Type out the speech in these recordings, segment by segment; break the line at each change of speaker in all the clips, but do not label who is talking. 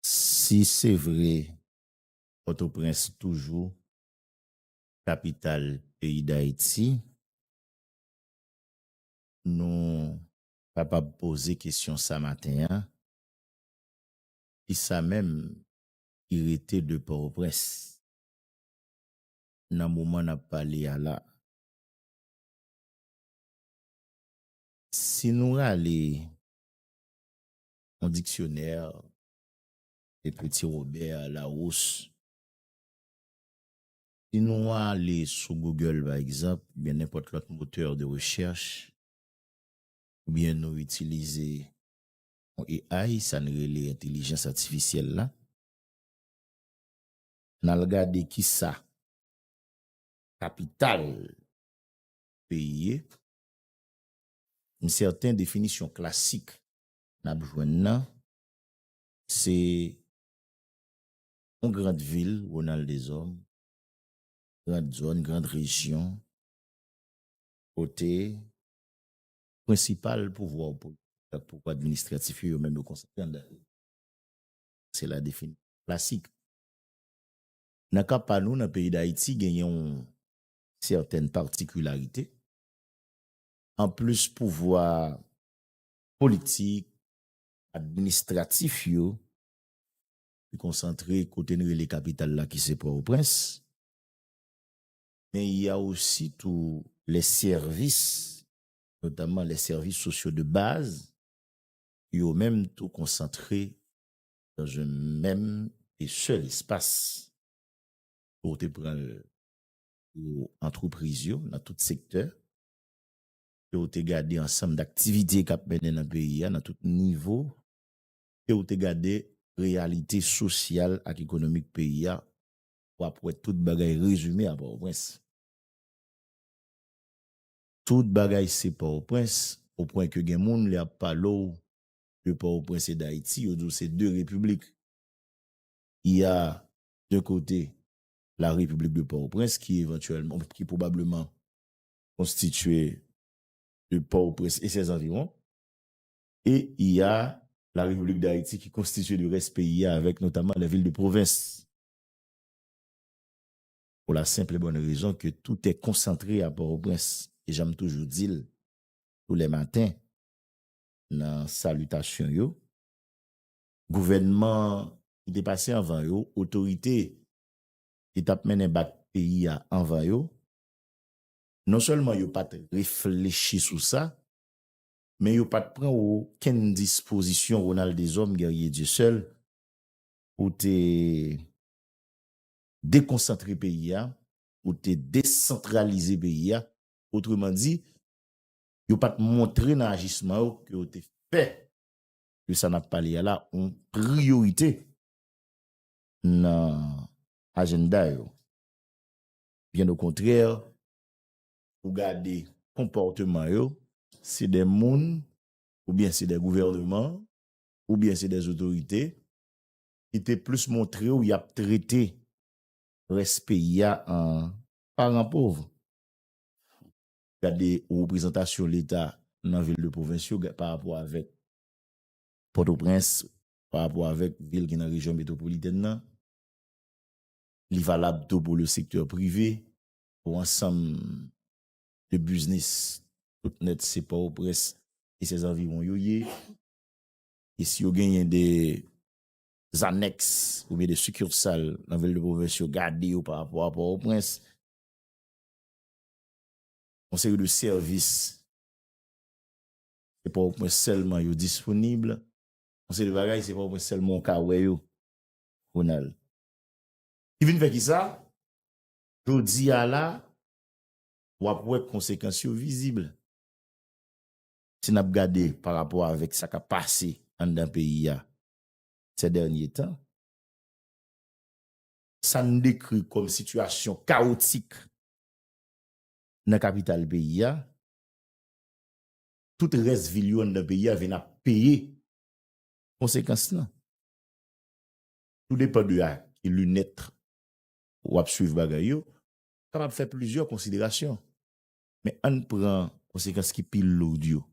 Si se vre Pòtoprens toujou kapital peyi Dayiti, nou kapab poze kesyon sa maten an, kisa menm ki rete de Pòtoprens nan moman n ap pale a la? Si nou rale yon diksyonè de Petit Robert Larousse. Si nou ale sou Google pa egzanp, oubyen nenpòt lòt motè de rechèch, oubyen nou itilize yon AI, sa n rele entelijans atifisyèl la, n al gade ki sa kapital peyi ye, m sèten definisyon klasik n ap jwenn nan se yon grand vil, Ronald Deshommes, grand zòn, grand rejyon kote prensipal pouvwa ou politik ak pouvwa administratif yo, yo menm yo konsantre anndan yo. Se la defini klasik. Nan ka pa nou, nan peyi Dayiti gen yon sètèn patikilarite. Anplis pouvwa politik, administratif yo te konsantre kote n rele kapital la ki se Pòtoprens, men y a osi tou lè sèvis, notamman lè sèvis sosyo de baz, yo menm tou konsantre nan yon menm e sèl espas. Ou te pran l pou antrepriz yo nan tout sektè. ke ou te gade ansanm daktivite kap mennen nan peyi a nan tout nivo, ke ou te gade reyalite sosyal ak ekonomik peyi a, wap wè tout bagay rezime a Pòtoprens. Tout bagay se Pòtoprens, o pwen ke gen moun lè ap pale w de Pòtoprens e Dayiti, yo di w se 2 repiblik. Il ya de kote la repiblik de Pòtoprens ki evantyèlman, ki pwobableman konstitye de Port-au-Prince e sè zanviwon, e y a la République d'Haïti ki konstitye de rès peyi a avèk notamman lè vil de pwovens. Pou la senpl e bòn rezon ke tout è konsantre a Port-au-Prince. E jan m toujou di l tou lè maten nan salitasyon yo, gouvènman ki te pase anvan yo, otorite ki t ap mennen bak peyi a anvan yo, Non sèlman yo pa t reflechi sou sa, men yo pa t pran okenn dispozisyon Ronald Deshommes Guerrier Dieuseul pou te dekonsantre peyi a, pou te desantralize peyi a, otreman di, yo pa t montre nan ajisman yo ke yo te fè de sa n ap pale a la yon priyorite nan ajennda yo. Byen okontrè, ou gade konpòteman yo, se de moun oubyen se de gouvèneman oubyen se de zotorite ki te plis montre w y ap trete rès peyi a an paran pov. Gade reprezantasyon Leta nan vil de pwovens yo parapò avèk Pòtoprens, parapò avèk vil ki nan rejyon metwopolitèn nan. Li valab tou pou le sektè prive, pou ansanm de biznis tout nèt se Pòtoprens e sè zanviwon yo ye. E si yo genyen de zanèks oubyen de sikirsal nan vil de pwovens yo gade yo pa rapò a Pòtoprens. Yon seri de sèvis se Pòtoprens sèlman yo disponib. Yon seri de bagay se Pòtoprens sèlman ou ka wè yo, Ronald. Ki vin fè kisa? Jodi a la, w ap wè konsekans yo vizib. Si n ap gade pa rapò avèk sa k ap pase anndan peyi a sè dènye tan, sa n dekri kòm sitiyasyon kawotik nan kapital peyi a, tout rès vil yo anndan peyi a vin ap peye konsekans lan. Tou depan de a ki linèt w ap swiv bagay yo, ou kapab fè plizyè konsiderasyon. Men ann pran konsekans ki pi lourd yo.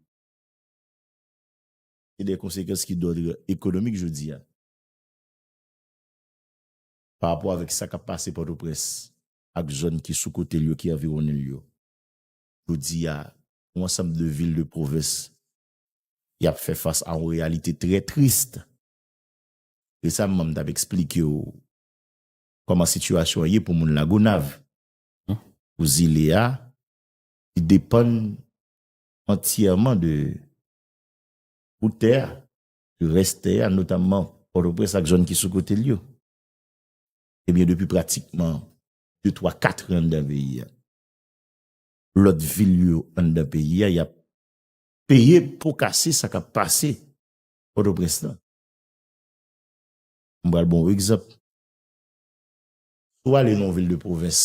Se de konsekans ki d'ordre ekonomik jodi a. Pa rapò avèk sa k ap pase Pòtoprens ak zòn ki sou kote l yo, ki anviwonnen l yo. Jodi a, yon ansanm de vil de pwovens y ap fè fas a yon reyalite trè trist. Resamman m t ap eksplike w kòman sitiyasyon an ye pou moun Lagonav, pou zile a, li depann antyèman de bout tè a, de rès tè a, notamman Pòtoprens ak zòn ki sou kote l yo. Ebyen depi pratikman de twa katran anndan peyi a, lòt vil yo anndan peyi a y ap peye po kase sa k ap pase Pòtoprens lan. M pral ba w yon egzanp. Si w ale nan yon vil de pwovens,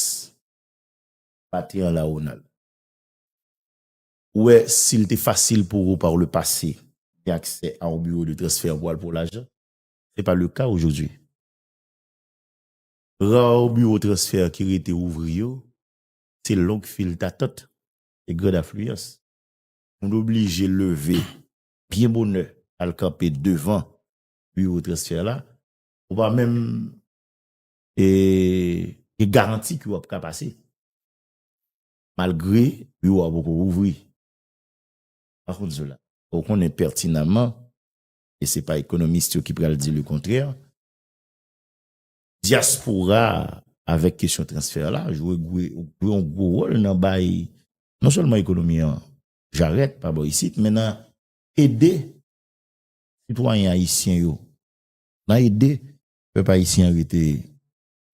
maten an la ou nan l, ou wè si l te fasil pou ou par le pase gen aksè a yon biwo de transfè pou al pran lajan, se pa le ka ojodwi. Ra biwo transfè ki rete ouvri yo, se long fil datant e gran afliyans. Moun oblije leve byen bonè al kanpe devan biwo transfè la, ou pa menm gen garanti ke w ap ka pase. Malgre biwo a poko ouvri. Par kont Zola, ou konnen pètinanman, e se pa ekonomist yo ki pral di le kontrè, dyaspora avèk kesyon transfè la jwe yon gwo wòl nan bay non sèlman ekonomi an jarèt pa bò isit men nan ede sitwayen ayisyen yo, nan ede pèp ayisyen an rete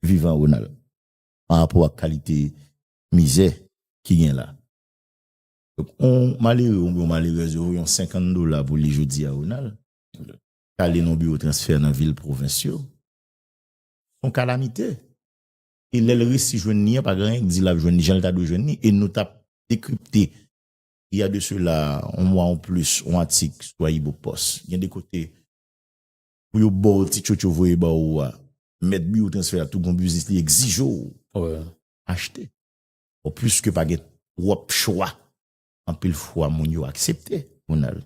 vivan Ronald pa rapò ak kalite mizè ki gen la. Donk yon malere oubyen yon malerèz yo voye yon 50 dola pou li jodi a Ronald ki ale nan yon biwo transfè nan vil pwovens yo se yon kalamite. e lèl resi jwenn li an pa gen anyen ki di lap jwenn li janl ta dwe jwenn li e nou tap dekripte il ya de sela on mwa ou plis on atik sou AyiboPost gen de kote pou yo baw ti tchotch yo voye ba ou a mèt biwo transfè a tou gon biznis li egzije w achte bon pwiske pa gen twòp chwa anpil fwa moun yo aksepte pou n al.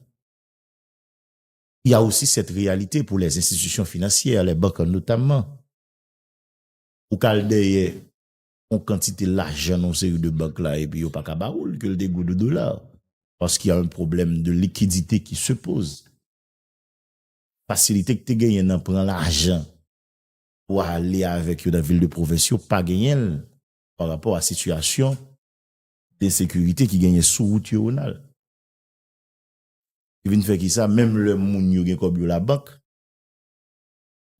Il ya osi sèt reyalite pou lè enstitisyon finansyè lè bank notamman. Ou ka al dèyè yon kantite lajan nan yon seri de bank la epi yo pa ka ba ou l, ke l te goud ou dola. Paske y a un problème de liquidité qui se pose. Fasilite ki te genyen nan pran lajan pou ale avèk yo nan vil de pwovens yo pa genyen l pa rapò a sitiyasyon ensekirite ki genyen sou wout yo, Ronald. Ki vin fè ki sa, menm lè moun yo gen kòb yo labank,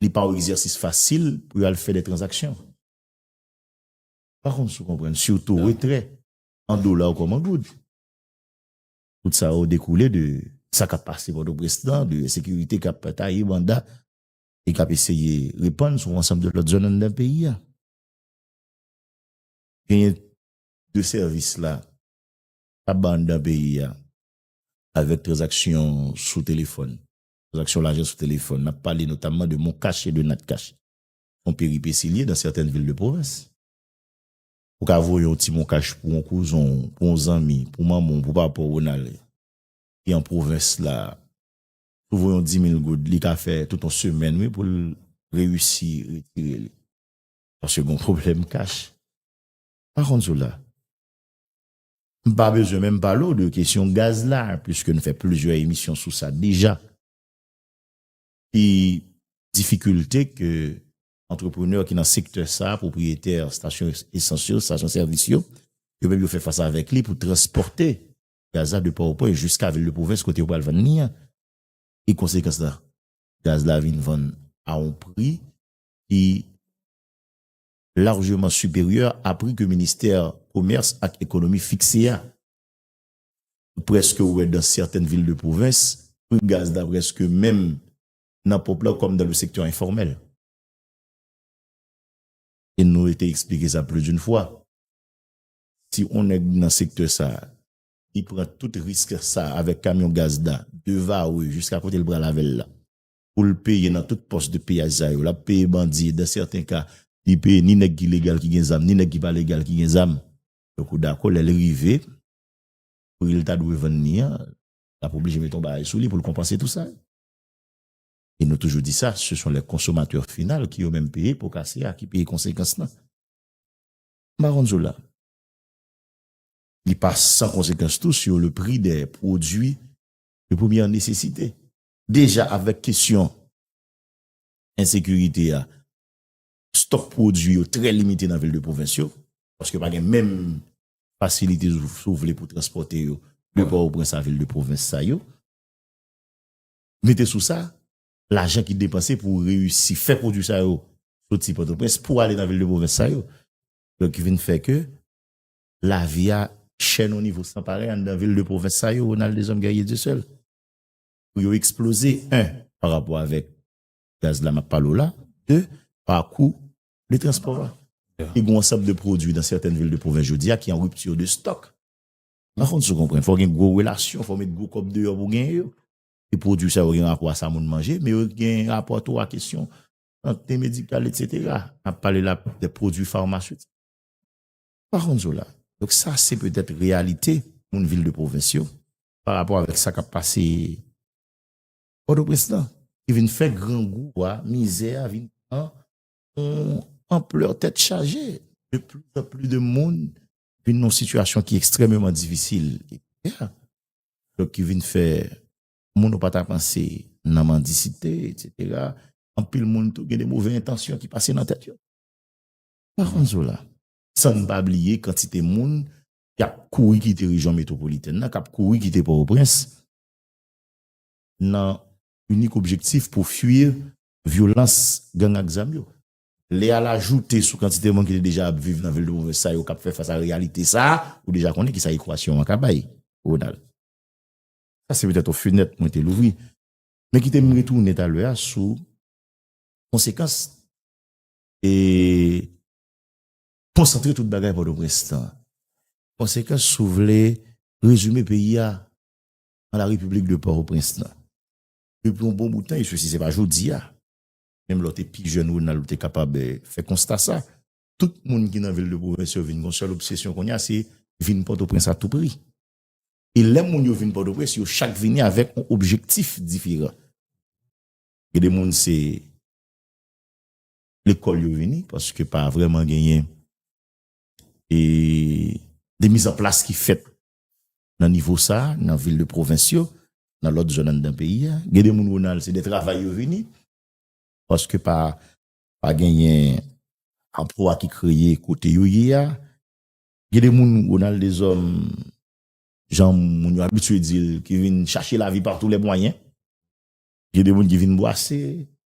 li pa yon egzèsis fasil pou yo al fè de tranzaksyon. Pa konn si w konprann, sitou retrè an dola ou kòm an goud. Tout sa yo dekoule de sa k ap pase Pòtoprens lan, de ensekirite k ap taye banda e k ap eseye repann sou yon ansanm de lòt zòn anndan peyi a. Genyen de sèvis la k ap bay anndan peyi a avèk tranzaksyon sou telefòn. Tranzaksyon lajan sou telefòn, nap pale notamman de Moncash e de Natcash, fon peripesi liye dan sètèn vil de pwovens. Ou ka voye yon ti Moncash pou yon kouzon w, pou yon zanmi, pou manman w, pou papa w, Ronald, ki an pwovens la. Si w voye yon dimil goud, li ka fè tout yon semèn wi pou l reyisi retire li. Paske gen yon pwoblèm kach. Pa konn sou la. M pa bezwen menm pale w de kesyon gaz la, puiske n fè plizyè emisyon sou sa deja. Ki difikilte ke antreprenè ki nan sektè sa, pwopriyetè stasyon esans yo, stasyon sèvis yo, yo menm yo fè fas avèk li pou transpòte gaz la de Pòtoprens jiska vil de pwovens kote yo pral vann li an? E konsekans la, gaz la vin vann a yon pri ki largeman siperyè a pri ke ministè komès ak ekonomi fikse a. Ou prèske wè dan sètèn vil de pwovens, pri gaz la prèske menm nan ponp la kòm dan le sektè enfòmèl. E nou te eksplike sa pli d'un fwa, si on nèg nan sektè sa, li pran tout risk sa avèk kamyon gaz la, de Varreux jiska kote li pral avèl la, pou l peye nan tout pòs de piyaj sa yo. L ap peye bandi e dan sèten ka, li peye ni nèg ki legal ki gen zam, ni nèg ki pa legal ki gen zam. Donk ou dakò lè l rive, pri l ta dwe vann ni an, l ap oblije mete yon bagay sou li pou l konpanse tou sa. E nou toujou di sa, se son lè konsomatè final ki yo menm peye po kase a, ki peye konsekans lan. M pa konn sou la. Li pa san konsekans tou sou le pri de pwodui de premyè nesesite. deja avèk kesyon ensekirite a, stòk pwodui yo trè limite nan vil de pwovens yo, paske pa gen menm fasilite si w vle pou transpòte yo de Pòtoprens a vil de pwovens sa yo. Mete sou sa, lajan ki depanse pou reyisi fè pwodui sa yo soti Pòtoprens pou ale nan vil de pwovens sa yo. Donk ki vin fè ke lavi a chè nan yon nivo san parèy anndan vil de pwovens sa yo, Ronald Deshommes Guerrier Dieuseul. pou yo eksploze 1 pa rapò avèk gaz la map pale w la 2 pa kou de transpò a e gou ansanm de pwodwi nan sètèn vil de pwovens jodi a ki an ripti de stòk pa konn sou konprann fò gen gwo relasyon fò met gwo kòb deyò pou gen yo e pwodwi sa yo gen rapò a sa moun manje men yo gen rapò tou a kesyon sante medikal etc nap pale la de pwodwi farmasiti pa konn sou la donk sa se petèt reyalite moun vil de pwovens yo pa rapò avèk sa k ap pase Pòtoprens lan ki vin fè grangou a, mizè a vin pran yon anplè tèt chaje. De pli an pli de moun vin nan yon sitiyasyon ki ekstrèmeman difisil e prekè, donk ki vin fè moun ou pa ta panse nan mandisite etsetera. Anpil moun tou gen de move entansyon ki pase nan tèt yo. Par konn Zola, san n pa bliye kantite moun ki ap kouri kite rejyon metwopolitèn nan, k ap kouri kite Pòtoprens nan inik objektif pou fui vyolans gang ak zam yo. Lè y al ajoute sou kantite moun ki te deja ap viv nan vil de pwovens sa yo k ap fè fas a reyalite sa a, ou deja konnen ki sa ekwasyon an ka bay, Ronald. Sa se petèt yon fenèt mwen te louvri. Men kite m retounen talè a sou konsekans e. Konsantre tout bagay Pòtoprens nan konsekans si w vle rezime peyi a an la Repiblik de Pòtoprens nan. Depi yon bon bout tan, eswesi se pa jodi a, menm lè w te pi jèn Ronald ou te kapab fè konsta sa, tout moun ki nan vil de pwovens yo vin gen yon sèl obsesyon kounye a se vin Pòtoprens a tou pri. E lè moun yo vin Pòtoprens yo chak vini avèk yon objektif diferan. Gen de moun se. lekòl yo vini paske pa vreman genyen e de miz an plas ki fèt nan nivo sa nan vil de pwovens yo nan lòt zòn anndan peyi a gen de moun Ronald se de travay yo vini paske pa pa genyen anplwa ki kreye kote yo ye a gen de moun Ronald de zòn jan moun yo abitye di l ki vin chache lavi pa tou lè mwayen. Gen de moun ki vin bwase,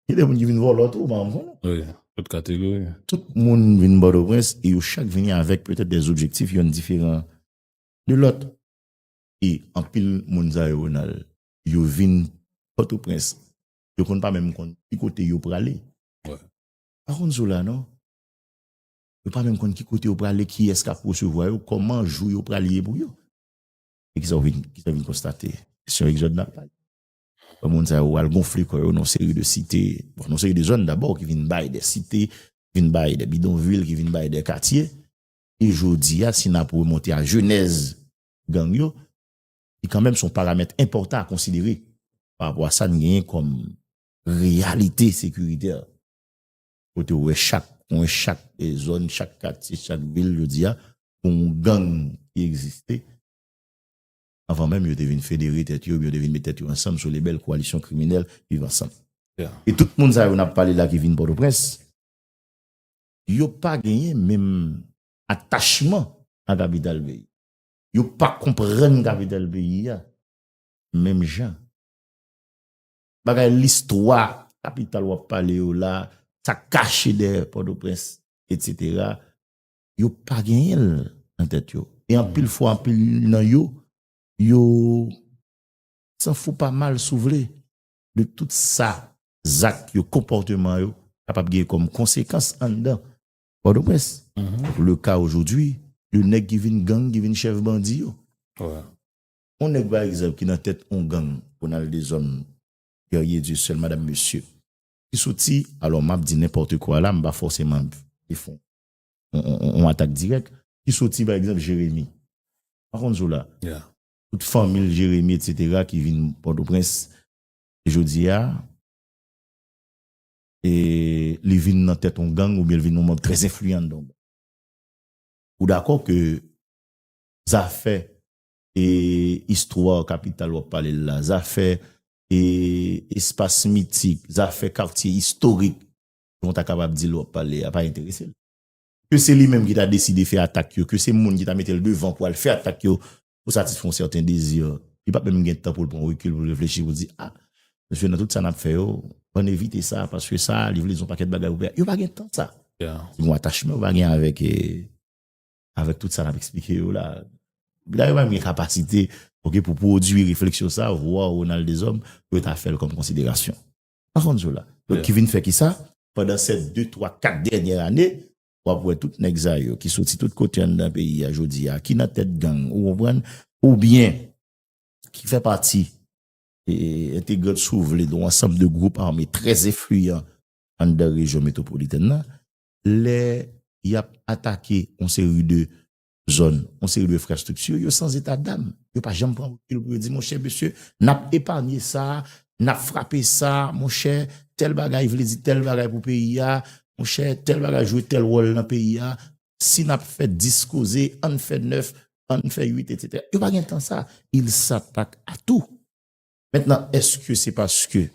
gen de moun ki vin vòlò tou, mwen mwen. Wi, tout
kategori. Tout moun
vin bòdò prens, e yo chak vini avèk petèt de objektif yon diferan de lòt. E anpil moun sa yo Ronald, yo vin bòdò prens, yo konn pa menm konn ki kote yo prale. Wi.
Pa konn sou
la non. Yo pa menm konn ki kote yo prale, ki es kap resevwa yo, kòman jou yo prale ye pou yo. E ki sa ou vin, ki sa ou vin konstate? Kesyon egzòd nan pale. Wè moun sa yo al gonfle kò yo nan yon seri de site, nan yon seri de zòn dabò ki vin bay de site, ki vin bay de bidonvil, ki vin bay de katye. E jodi a si n ap remonte a jenèz gang yo, ki kanmenm se yon paramèt enpòtan a konsidere pa rapò a sa n genyen kòm reyalite sekiritè. Kote ou wè chak kwen, chak zòn, chak katye, chak vil jodi a, gen yon gang ki egziste. anvan menm yo te vin federe tèt yo, yo te vin met tèt yo ansanm sou lebèl koalisyon kriminèl Viv Ansanm. E tout moun sa yo n ap pale la ki vin Pòtoprens, yo pa genyen menm atachman a kapital peyi. Yo pa konprann kapital peyi a menm jan. Bagay listwa kapital w ap pale yo la, sa k kache dèyè Pòtoprens, etc. yo pa genyen l nan tèt yo. E anpil fwa anpil nan yo, yo san fou pa mal si w vle de tout sa zak yo, konpòteman yo kapab gen kòm konsekans anndan Pòtoprens. Le ka ojodwi de nèg ki vin gang, ki vin chèf bandi yo. On nèg pa egzanp ki nan tèt on gang, Ronald Desommes, Guerrier Dieuseul, Madame Monsieur, ki soti, alò m ap di nenpòte kwa la, m pa fòseman ap defon yon atak dirèk ki soti pa egzanp Jeremi. Pa konn sou la. Tout fanmi l Jeremi etc ki vin Pòtoprens jodi a e li vin nan tèt yon gang oubyen li vin yon manb trè enfliyan nan yon gang. Ou dakò ke zafè e istwa kapital w ap pale l la, zafè e espas mitik, zafè katye istorik Ou ta kapab di l w ap pale a pa enterese l. Ke se li menm ki ta deside fè atak yo, ke se moun ki ta mete l devan pou al fè atak yo pou satisfè yon sèten dezi, li pap menm gen tan pou l pran rekil pou l reflechi pou l di, a, mesye nan tout sa n ap fè yo, ann evite sa paske sa li vle di yon pakèt bagay pou peyi a. Yo pa gen tan sa. Se yon atachman yo pa gen avèk avèk tout sa n ap eksplike yo la. Epi dayè yo pa menm gen kapasite, ok, pou pwodui refleksyon sa, vwa Ronald Deshommes pou yo ta fè l kòm konsiderasyon. Pa konn sou la. Donk ki vin fè ki sa? Pandan sè de, twa, kat dènyè ane, w ap wè tout nèg sa yo ki soti tout kote anndan peyi a jodi a, ki nan tèt gang, ou konprann, oubyen ki fè pati e entegrant si w vle de yon ansanm de gwoup ame trè enfliyan anndan rejyon metwopolitèn nan, lè y ap atake yon seri de zòn, yon seri de enfrastrikti, yo san zeta dam. Yo pa janm pran rekil pou yo di, monchè, mesye, n ap epanye sa, n ap frape sa, monchè, tèl bagay vle di tèl bagay pou peyi a, monchè, tèl bagay jwe tèl wòl nan peyi a, si n ap fè 10 koze, an n fè 9, an n fè 8, etsetera. Yo pa gen tan sa. Il s'attaque à tout. Mentnan, èske se paske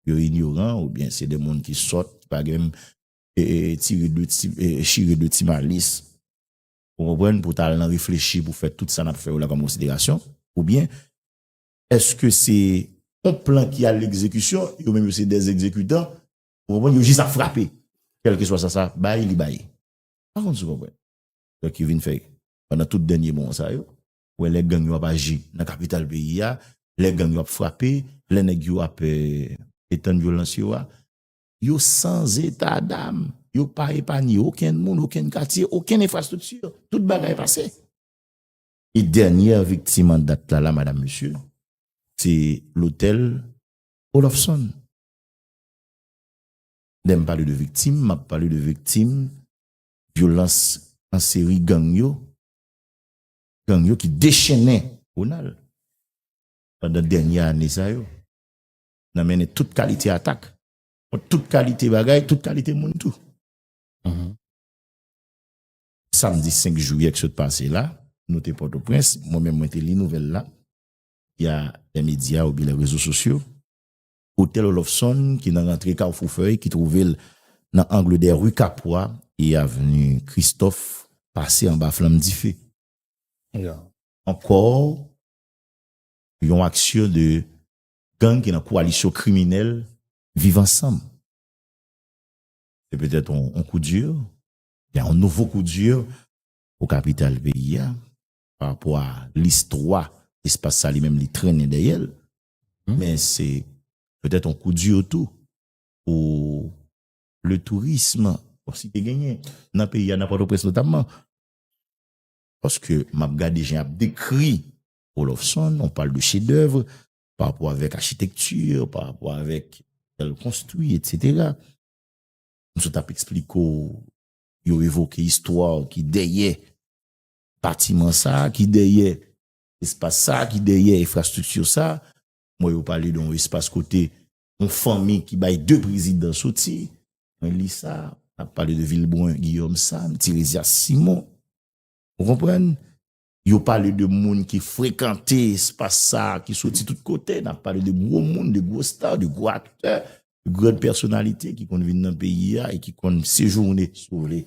yo inyoran oubyen se de moun ki sòt, ki pa gen menm chire de ti malis Ou konprann? Pou w ta al nan reflechi pou fè tout sa n ap fè yo la kòm konsiderasyon. Oubyen, èske se yon plan ki a legzekisyon, yo menm yo se dè egzekitan, ou konprann, yo jis ap frape. Kèlkeswa sa sa bay, li bay. Pa konn si w konprann. Donk yo vin fè, pandan tout dènye mwa sa yo, ou wè lè gang yo ap aji nan kapital peyi a, lè gang yo ap frape, lè nèg yo ap etann vyolans yo a, yo san zeta dam, yo pa epanye okenn moun, okenn katye, okenn enfrastrikti, tout bagay pase. E dènyè viktim an dat la la, madam, mesye, se lotèl Olofson. Lè m pale de viktim, m ap pale de viktim vyolans an seri gang yo, gang yo ki dechennen Ronald pandan dènyè ane sa yo. nan mennen tout kalite atak, kont tout kalite bagay, tout kalite moun tou. Samdi 5 jouyè ki sot pase la, nou te Pòtoprens, mwen menm mwen te li nouvèl la, via lè medya oubyen lè rezo sosyo, otèl Olofson ki nan rantre Kawfou Fèy ki twouve l nan angle dè ri Kapwa e avni Kristòf pase anba flanm dife. Ankò yon aksyon de gang ki nan koalisyon kriminèl Viv Ansanm. Se petèt yon coup dur, oubyen yon nouvo coup dur pou kapital peyi a, pa rapò a listwa espas sa li menm li trennen dèyè l, men se petèt yon coup dur tou pou le tourisme, bon si te genyen, nan peyi a, nan Pòtoprens notamman. Paske m ap gade jan y ap dekri Olofson, on pale de chedèvre, pa rapò avèk achitekti, pa rapò avèk jèl konstwi, etsetera. M sot ap eksplike w, yo evoke istwa ki dèyè batiman sa, ki dèyè espas sa, ki dèyè efrastrikti sa. M wè yo pale don espas kote yon fanmi ki bay de prezidan soti. Mwen li sa, ap pale de Vilbrun Guillaume Sam, Tirésias Simon. Ou konprann? Yo pale de moun ki frekante espas sa a ki soti tout kote. N ap pale de gwo moun, de gwo star, de gwo aktè, de gran pèsonalite ki konn vin nan peyi a e ki konn sejounen, si w vle,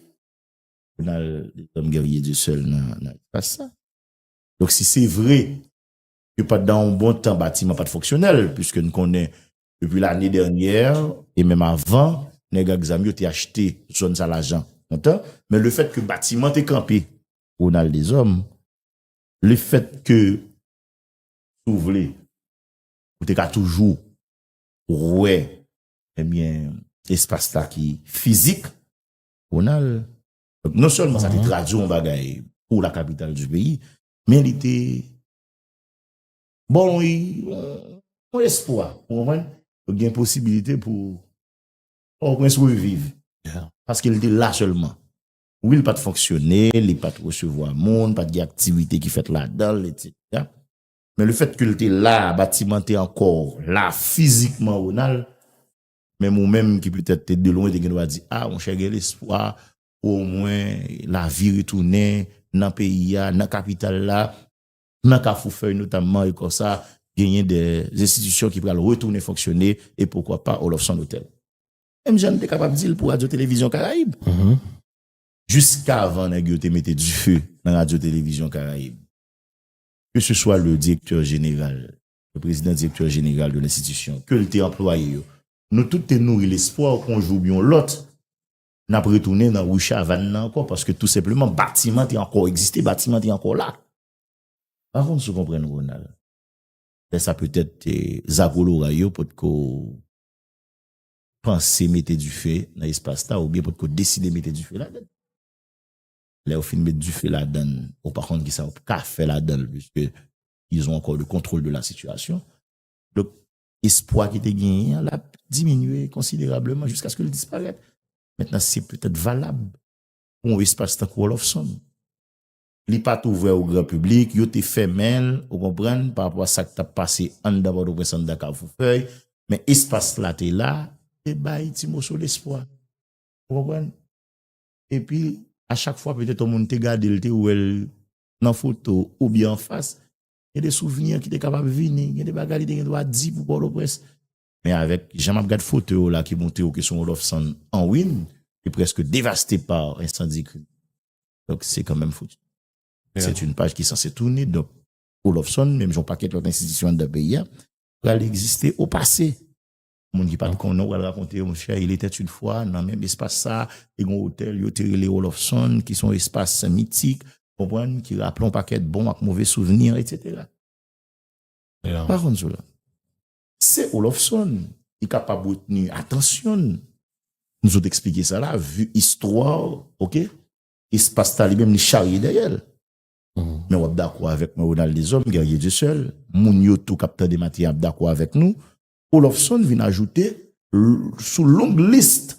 pou n al Les Hommes Guerriers du Seul nan espas sa. Donk si se vre ke pandan yon bon tan batiman pa t fonksyonèl, piske n konnen depi lane dènyè e menm avan, nèg ak zam yo te achte zòn sa lajan kontan, men lefèt ke batiman te kanpe Ronald Deshommes, le fèt ke si w vle ou te ka toujou wè ebyen espas la ki fizik Ronald non sèlman sa te tradwi yon bagay pou la kapital di peyi men li te ba w yon espwa ou konprann gen posibilite pou Port-au-Prince reviv paske li te la sèlman. Wi li pat fonksyone, li pat resevwa moun, pat gen aktivite ki fèt ladanl etc. Men le fèt ke li te la, batiman te ankò la fizikman Ronald, menm ou menm ki petèt te de lwen te gen dwa di a monchè gen lespwa pou o mwen lavi retounen nan peyi a, nan kapital la, nan kafou fèy notamman e konsa genyen de enstitisyon ki pral retounen fonksyone e poukwa pa Oloffson Hotel. Menm jan n te kapab di l pou Radyo Televizyon Karayib. Jiskavan nèg yo te mete dife nan Radyo Televizyon Karayib, ke se swa le direktè jeneral, le prezidan direktè jeneral de lenstitisyon, ke l te anplwaye yo, nou tout te nouri lespwa w kon jou oubyon lòt, n ap retounen nan Ri Chavann nan ankò, paske tou senpleman batiman te ankò egziste, batiman te ankò la. M pa konn si w konprann Ronald. Lè sa petèt zagoloray yo potko. panse mete dife nan espas la oubyen potko deside mete dife ladan l. Lè ou fin met dife ladan l, ou pa konn kisa ou ka fè ladan l piske ils ont encore le contrôle de la situation. Donk, espwa ki te genyen an l ap diminye konsiderableman jiskaske l disparèt. Mentnan se petèt valab pou yon espas tankou Oloffson. Li pa t ouvè o gran piblik, yo te fèmen l, ou konprann, pa rapò a sa k t ap pase anndan Pòtoprens, anndan Kafoufèy, men espas la te la, te bay ti moso lespwa. Ou konprann? Epi, a chak fwa petèt yon moun te gade l, te wè l nan foto oubyen an fas, gen de souvni ki te kapab vini, gen de bagay li te gen dwa di pou Pòtoprens. Men avèk jan m ap gad foto yo la ki montre yo ke se yon Lòfsan an ruin, li prèske devaste pa ensandi krim. Donk se kanmenm fouti. Se t'youn paj ki sanse touni. Donk, Olofsonn, menm joun pakèt lòt enstitisyon anndan peyi a, pral egziste o pase. Moun ki pa te konnen ou pral rakonte yo, monchè, il etait une fois, nan menm espas sa, te gen yon otèl yo te rele Olofsonn, ki son espas mitik, konprann, ki raple yon pakèt bon ak move souvni, etc. Mpa konn sou la. Se Olofsonn ki kapab retni atansyon n. Nou sot eksplike sa la, vu istwa, ok? Espas ta li menm li charye dèyè l. Men w ap dakò avèk mwen Ronald Deshommes, Guerrier Dieu seul, moun yo tou k ap tande maten an ap dakò avèk nou, Olofsonn vin ajoute sou long list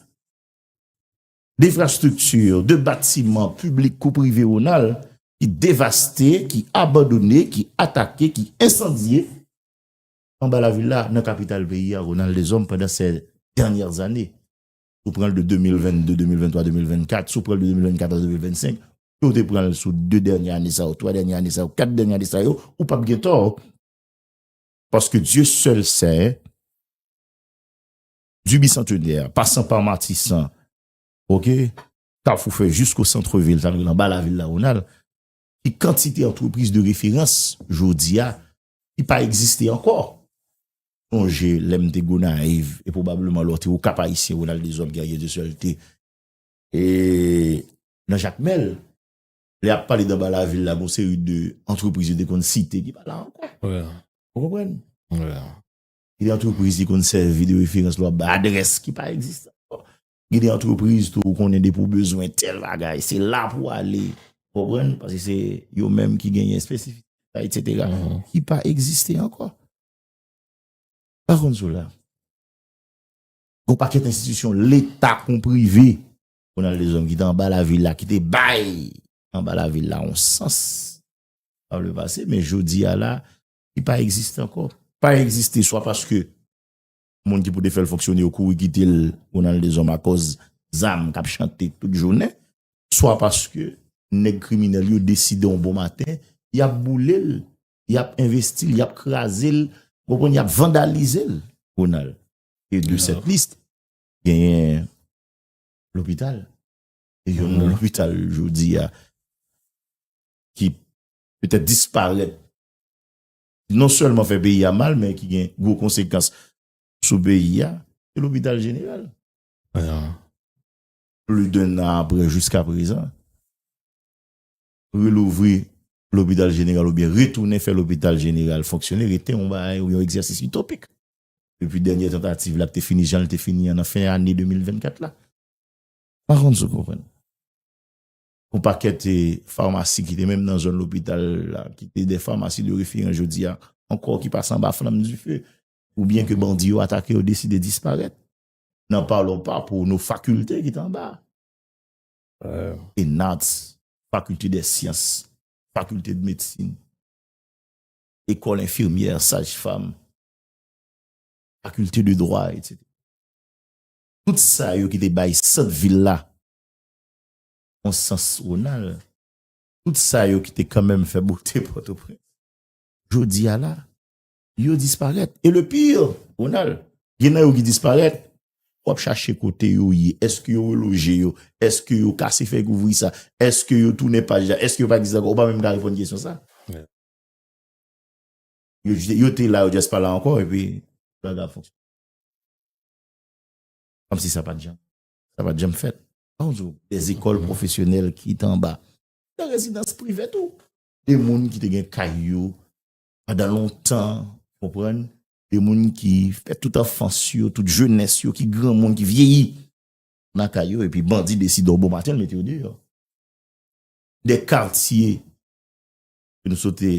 defrastrikti, de batiman piblik kou prive Ronald ki devaste, ki abandone, ki atake, ki ensandye. Anba lavil la, nan kapital peyi a, Ronald Deshommes, pandan sè dènyè zane, si w pran l de 2022, 2023, 2024, si w pran l de 2024 a 2025, si w te pran l sou 2 dènyè ane sa yo, 3 dènyè ane sa yo, 4 dènyè ane sa yo, ou pap gen tò. Paske Dye sèl Sen, du Bicentenè, pasan pa Matisan, ok, Kafou fè jisko santre vil, sa vle di anba lavil la, Ronald, ki kantite antrepriz de referans, jodi a, ki pa egziste ankò. Sonje lè m te Gonayiv e pwobableman lè w te Okap Ayisyen Ronald Deshommes Guerrier de Seul te nan Jakmèl, lè y ap pale d'anba lavil la gen yon seri de antrepriz yo te konn site ki pa la ankò. Ou konprann? Gen de antrepriz ki konn sèvi de referans lè w ap bay adrès ki pa egziste ankò. Gen de antrepriz tou ou konnen depi ou bezwen tèl bagay, se la pou ale. Ou konprann? Paske se yo menm ki genyen espesifik, etsetera. Ki pa egziste ankò. Pa konn sou la. Gon pakèt enstitisyon leta kon prive. Jounal Lezòm ki te anba lavil la, ki te bay anba lavil la yon sans. Sa vle pase, men jodi a la, ki pa egziste ankò. Pa egziste swa paske Moun ki pou te fèl fonksyone yo kouri kitel pou nan dezòm akòz zam kap chante tout jounen, swa paske nèg kriminèl yo deside yon bon maten yap boulel, yap envestil, yap krazel, ou konprann yap vandalizel. Ronald, e de sèt list genyen lopital, e yon nan lopital jodi a ki petèt disparèt non sèlman fè peyi a mal men ki gen gwo konsekans sou peyi a, se lopital jeneral. Pli d'un an aprè jiska prezan, relouvri lopital jeneral oubyen retounen fè lopital jeneral fonksyone rete yon bagay ou yon egzèsis itopik. Depi dènyè tantativ la ki te fini jan li te fini an nan fen ane 2024 la. Pakonn si w konprann. Pou pakèt famasi ki te menm nan zòn lopital la, ki te de famasi de referan jodi a, ankò ki pase anba flanm dife, ou byen ke bandi yo atake yo deside disparèt, nan palon pa pou nou fakilte ki te anba. Enats, fakilte de syans, fakilte de medsin, ekòl enfirmyè, saj fam, fakilte de dwa, etc. Tout sa yo ki te bay sant vil la, on sans Ronald, tout sa yo ki te kanmenm fè bote Pòtoprens, jodi a la, yo disparèt. E le pire, Ronald, gen nan yo ki disparèt, w ap chache kote yo ye, èske yo reloje yo, èske yo kase fèy kouvri sa, èske yo tounen paj la, èske yo pa egziste ankò, ou pa menm ka reponn kesyon sa. Yo te la, yo just pa la ankò, e pi, bagay ap fonksyone. Kòmsi sa pa t janm, sa pa t janm fèt. Anjou, de zekòl pwofesyonèl ki te anba. De rezidans prive tou. De moun ki te gen kay yo pandan lontan, ou konprann? De moun ki fè tout anfans yo, tout jenès yo, ki granmoun, ki vyeyi nan kay yo epi bandi deside yon bon maten mete yo deyò. De katye ke nou sot te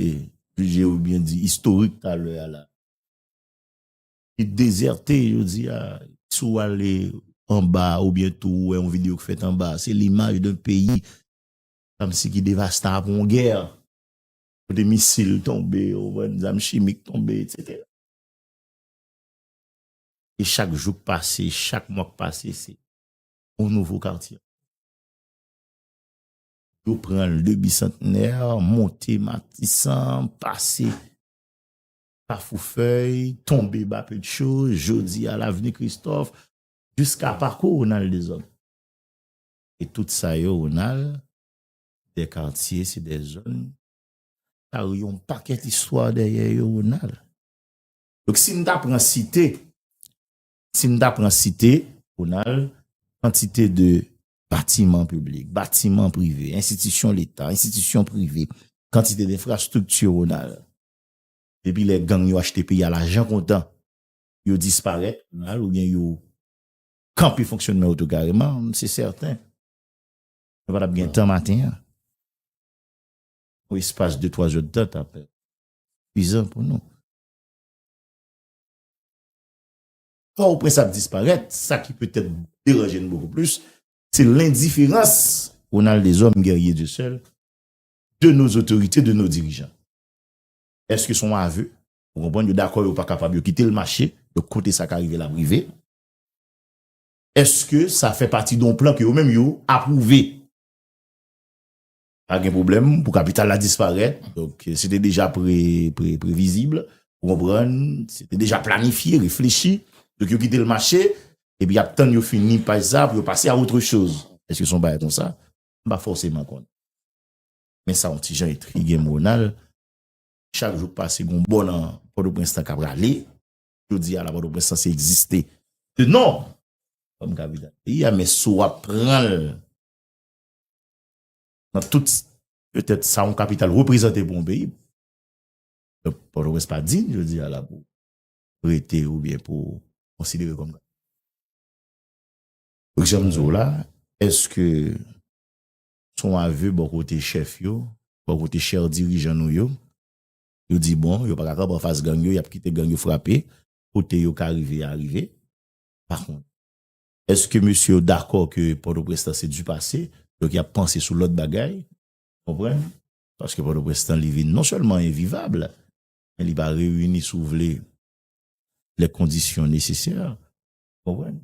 jije oubyen di istorik talè a la. ki dezète jodi a, si w ale anba a oubyen tou ou wè yon videyo ki fèt anba a, se limaj de peyi kòmsi ki devasta apre yon gè, kote misil tonbe, ou konprann, zam chimik tonbe, etsetera. E chak jou k pase, chak mwa k pase, se yon nouvo katye. Yo pran l de Bisantnè, monte Matisan, pase Kafoufèy, Tonbe Bapedcho, Jodi a Lavni Kristòf, jiska pakou Ronald Dezòd. E tout sa yo Ronald, se dè katye, se dè zòn, kare yon pakèt istwa dèyè yo Ronald. Donk si m ta pran site, si m ta pran site Ronald, kantite de batiman piblik, batiman prive, enstitisyon leta, enstitisyon prive, kantite de enfrastrikti Ronald, Depi lè gang yo achte peyi a lajan kontan yo disparèt mal oubyen yo kanpe fonksyonman yo tou kareman se sèten nou pa t ap gen tan maten an pou espas de twazèdtan t ap pwizan pou nou. Pòtoprens ap disparèt sa ki petèt deranje n bokou plis se lendiferans Ronald Deshommes Guerrier Dieuseul de nos otorite de nos dirijan. Eske son aveu, ou konprann yo dakò yo pa kapab yo kitel mache, donk kote sa ka rive lap rive. Eske sa fè pati don plan ke yo menm yo aprouve. Pa gen pwoblèm pou kapital la disparèt, donk se te deja pre pre previzible, ou konprann, se te deja planifye, reflechi, donk yo kitel mache, epi yap tann yo fini paj sa pou yo pase a otre choz. Eske son bagay konsa? M pa fòseman konn. Men sa yon ti jan entrige m Ronald, chak jou k pase gen yon bò nan Pòtoprens lan k ap rale, jodi a la Pòtoprens sanse egziste de non kòm kapital peyi a men si w ap pran l nan tout petèt sa yon kapital reprezante pou yon peyi, donk Pòtoprens pa diy jodi a la pou rete oubyen pou konsidere kòm kapital. Jan m di w la, èske Se yon ave bò kote chèf yo, bò kote chèr dirijan nou yo. Yo di bon, yo pa ka kanpe anfas gang yo, y ap kite gang yo frape kote yo ka rive a rive. Pa kont, èske mesye yo dakò ke Pòtoprens lan se di pase, donk y ap panse sou lòt bagay, ou konprann? Paske Pòtoprens lan li vin non sèlman envivab, men li pa reyini, si w vle, lè kondisyon nesesè, ou konprann?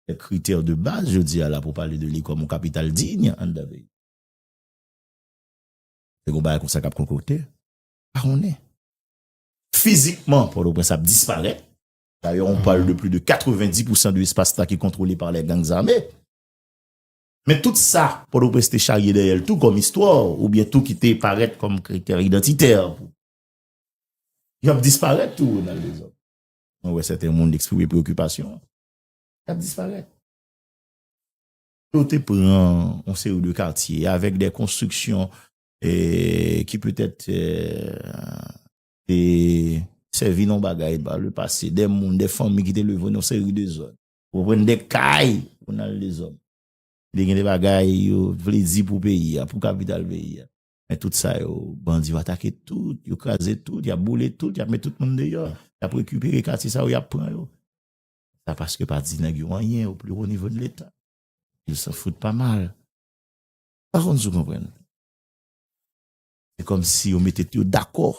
Kèk kritè de baz jodi a la pou pale de li kòm yon kapital diy anndan peyi. Se yon bagay konsa k ap konkokte? Pa konnen. Fizikman, Pòtoprens ap disparèt. Dayè on pale de pli de 90 pousan de espas la ki kontwole pa lè gang zame. Men tout sa Pòtoprens te charye dèyè l tou kòm istwa ou byen tou ki te parèt kòm kritè idantitè pou. Y ap disparèt tou Ronald Dezòd. Mwen wè sèten moun eksprime preokipasyon. L ap disparèt. Yo te pran yon seri de katye avèk de konstriksyon ki petèt te sèvi nan yon bagay pa le pase. De moun, de fanmi ki te leve nan yon seri de zòn. Ou konprann? De kay pou nan de zòn. Ki te gen de bagay yo vle di pou peyi a, pou kapital peyi a. Men tout sa yo, bandi yo atake tout, yo kraze tout, y ap boule tout, y ap met tout moun deyò. Y ap rekipere katye sa yo, y ap pran yo. sa paske pa di nèg yo anyen o pli wo nivo de leta yo san fout pa mal pa konn si w konprann se kòm si yo mete yo dakò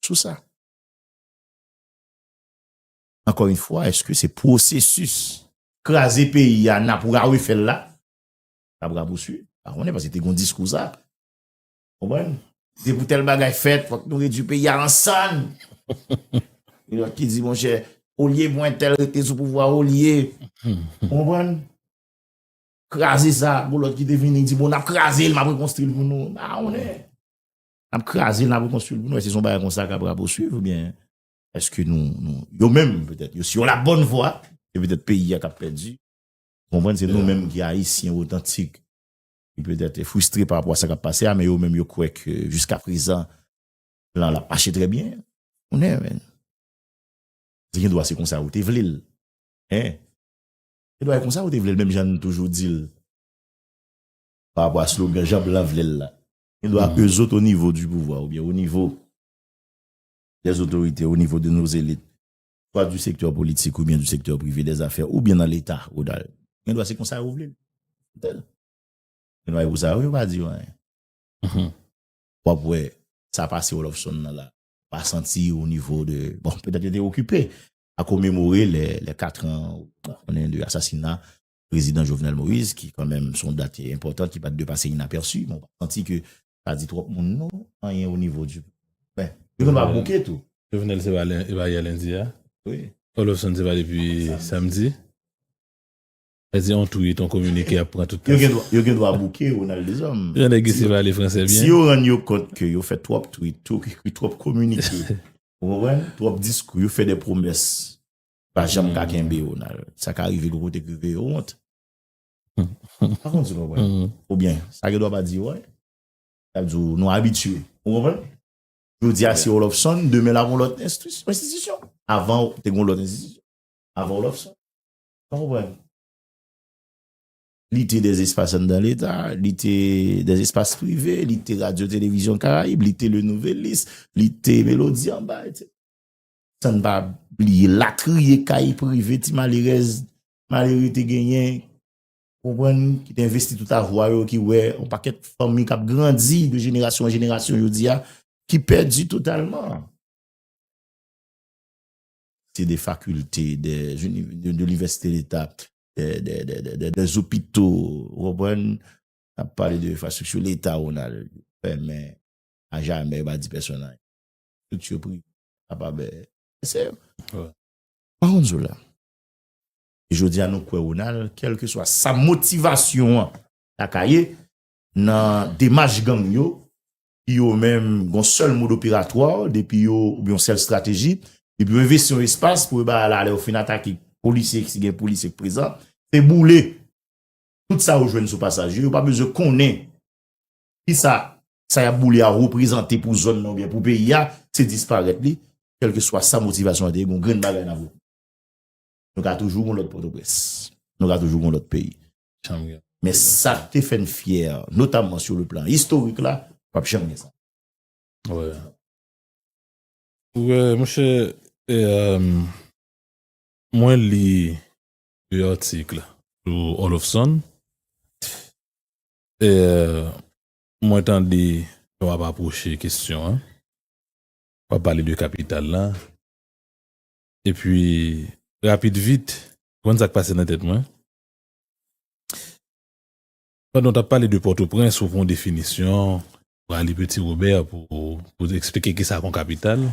sou sa ankò yon fwa eske se pwosesis kraze peyi a nap ra refèl la nap rapouswiv pa konnen paske te gon diskou sa. Konprann? Se pou tèl bagay fèt, fòk nou redwi peyi a an sann. Gen lòt ki di, monchè, olye pou entèl rete sou pouvwa, olye. Konprann? Kraze sa, bon lòt ki te vini di, bon, n ap kraze l, m ap rekonstri l pou nou. Ba ou lè. N ap kraze l, n ap rekonstri l pou nou. Ese son bagay kon sa k ap raposuiv ou byen? Eske nou, nou, yo menm, petèt, yo si yo la bòn vwa, se petèt peyi a k ap pèdi. Konprann? Se nou menm ki Ayisyen otantik. Li petèt te fristre pa rapò a sa kap pase a men yo menm yo kwè ke jiska prezan plan la ap mache trè byen. Konnen men. Se gen dwa se konsa yo te vle l. Men, gen dwa e konsa yo te vle l menm jan n toujou di l pa rapò a slogan jan blan vle l la. Gen dwa e zot o nivo di pouvwa oubyen o nivo dè zotorite, o nivo de nos elites. swa du sektè politik oubyen du sektè prive dè zafè oubyen nan leta ou dal gen dwa se konsa yo vle l fè l gen dwa e pou sa yo yo pa di yo anyen w ap wè sa pase Oloffson nan la ou pa santi o nivo de bon petèt yo te okipe a komemore lè 4 an ou konnen de asasina Prezidan Jovenel Moïse ki kan menm son dat enpòtan ki pat dwe pase inapèsi. Mwen pa santi ke sa di twòp moun non, anyen o nivo di. Ben, yo konn pa bouke tou. Jovenel se
pa yè lendi a. Wi. Oloffson
se pa depi
samdi. Sa di on tweet, on kominike ap pran tout tan sa. Yo gen dwa bouke
Ronald Deshommes. Jan nèg isi pale franse
byen. Si yo rann yo kont ke
yo fè twòp tweet, twòp kominike, ou konprann, twòp diskou, yo fè de pwomès. Pa janm ka kenbe yo nan. Sa ka rive gwo kote k rive yo wont. Pa konn si w konprann. Oubyen, sa gen dwa pa di yo, wè. Sa di w, nou abitye. Ou konprann? Jodi a se Olofsonn, demen la gon lòt enstitisyon. Avan ou, te gon lòt enstitisyon. Avan Olofsonn. Ou konprann? Li te des espas anndan leta, li te des espas prive, li te radyo televizyon Karayib, li te le nouvelis, li te melodi anba, etc. San n pa bliye latriye kay prive ti malerèz, malere te genyen, konprann, ki te envesti tout avwa yo, ki wè yon pakèt fanmi k ap grandi de jenerasyon an jenerasyon jodi a, ki pèdi totalman. Se de fakilte, de univèsite leta, de zopito, konprann, a pale de fastriksyon leta ou nan fèmen, a jamè, ba di pèsonay. Tout yo pri. Apa bè. Se yo. Wè. Pa won't zou la. Jodi a nou kwè Ronald, kelke swa sa motivasyon an ta ka ye nan demach gang yo, ki yo menm gon sèl mode operatwa, depi yo, oubyen yon sèl strateji, depi yo envesti yon espas pou yo ba la lè yo fin atake polisye, si gen polisye ki prezan, se boule tout sa yo jwenn sou pasaj yo, yo pa bezwen konnen Kisa sa y ap boule a reprezante pou zòn nan oubyen pou peyi a, se disparèt li, kèlkeswa sa motivasyon an te ye, gen yon grenn bagay n ap reteni. Nou ka toujou gen yon lòt Pòtoprens. Nou ka toujou gen yon lòt peyi. Men sa k te fè n fyè, notamman sou le plan istorik la, p ap janm gen sa.
Monchè, mwen li yon atik sou Oloffson. Eer mwen tande lè wap aproche kesyon an wap pale de kapital la epi rapid vit ou konn sak pase nan tèt mwen pandan ou tap pale de pòtoprens ou pran definisyon ou ale peti robè pou esplike kisa kon kapital